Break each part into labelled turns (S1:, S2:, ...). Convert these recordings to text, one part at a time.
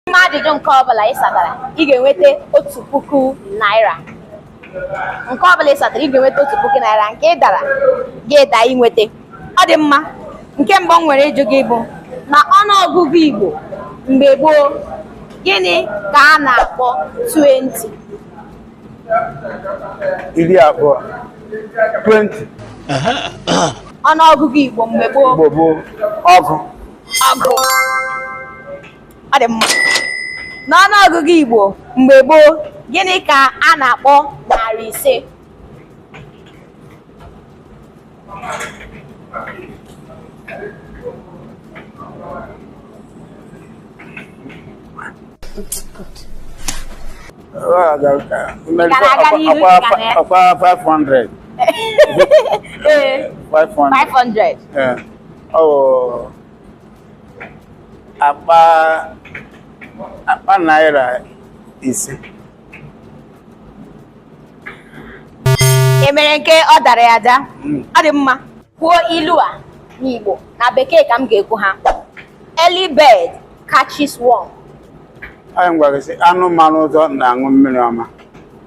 S1: N'ime ajụjụ nke ọbụla ị satara, ị ga-enweta otu puku naira. Nke ọbụla ị satara, ị ga-enweta otu puku naira. Nke ị dara, gị da inweta. Ọ dị mma. Nke mbụ m nwere ịjụ gị bụ n'ọnụọgụgụ Igbo mgbe gboo, gịnị ka a na-akpọ 20? iri abụọ 20 Ọnụọgụgụ Igbo mgbe gboo, Igbo bụ ọgụ ọgụ. ọ dị mma n'ọnụ ọgụgụ Igbo mgbe gboo gịnị ka a na-akpọ narị ise ọkwa 500 500 ọ akpa akpa naira ise e mere nke ọ dara ya ada hmm. ọ dị mma kwuo ilu a n'Igbo na bekee ka m ga-ekwu ya early bird catches worm anyị ga-asị anụ mara ụzọ na-aṅụ mmiri ọma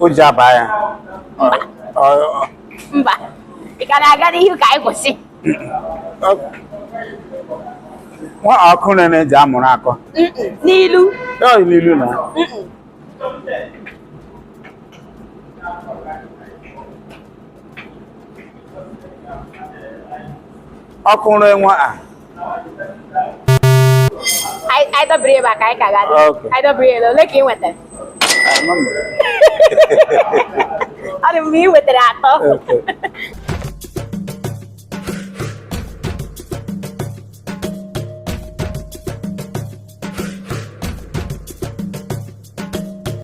S1: o ji aba ya Ọ- ọ- mba ị ka na-aga n'ihu ka anyị kwụsị ọ- nwa ọkụ rere ji amụrụ akọ Mm-mm, n'ilu ya ọ dị n'ilu na Mm-mm. ọkụ rere nwa a anyị dọbiri ebe a ka anyị ka ga anyị dọbiri ebe ole ka ị nwetara ọ dị mma ị nwetara atọ